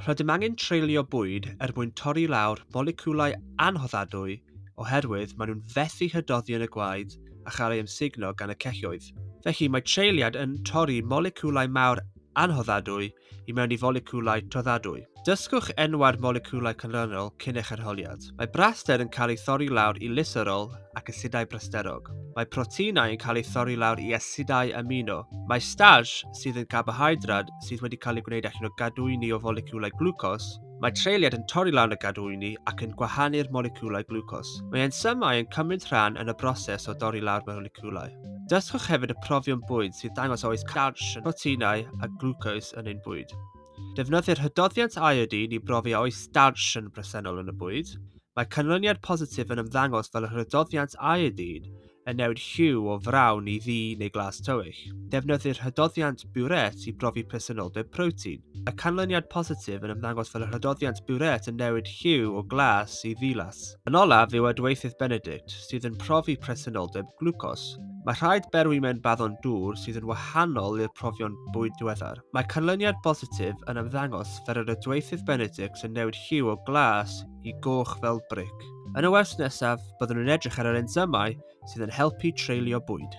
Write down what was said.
Rydym angen treulio bwyd er mwyn torri lawr moleciwlau anhoddadwy oherwydd maen nhw'n fethu hydoddi yn y gwaed a chael ei ymsugno gan y celloedd. Felly, mae treuliad yn torri moleciwlau mawr anhoddadwy i mewn i foleciwlau toddadwy. Dysgwch enwau'r moleciwlau canlynol cyn eich arholiad. Mae braster yn cael ei thorri lawr i lyserol ac asidau brasterog. Mae proteinau yn cael eu thorri lawr i asidau amino. Mae starch, sydd yn garbohydrad, sydd wedi cael ei gwneud allan o gadwyni o foleciwlau glwcos, mae treuliad yn torri lan y gadwyni ac yn gwahanu'r moleciwlau glwcos. Mae ensymau yn cymryd rhan yn y broses o dorri lawr moleciwlau. Dysgwch hefyd y profion bwyd sy'n dangos a oes starch yn proteinau a glwcos yn ein bwyd. Defnyddir hydoddiant iodine i brofi a oes starch yn bresennol yn y bwyd. Mae canlyniad positif yn ymddangos fel yr hydoddiant iodine yn newid lliw o frawn i ddu neu glas tywyll. Defnyddir hydoddiant Burette i brofi presenoldeb protein. Y canlyniad positif yn ymddangos fel y hydoddiant Burette yn newid lliw o glas i ddilas. Yn olaf yw adweithydd Benedict, sydd yn profi presenoldeb glwcos. Mae rhaid berwi mewn baddon dŵr sydd yn wahanol i'r profion bwyd diweddar. Mae canlyniad positif yn ymddangos fel yr adweithydd Benedict yn newid lliw o glas i goch fel bric. Yn y wers nesaf, byddwn yn edrych ar yr ensymau sydd yn helpu treulio bwyd.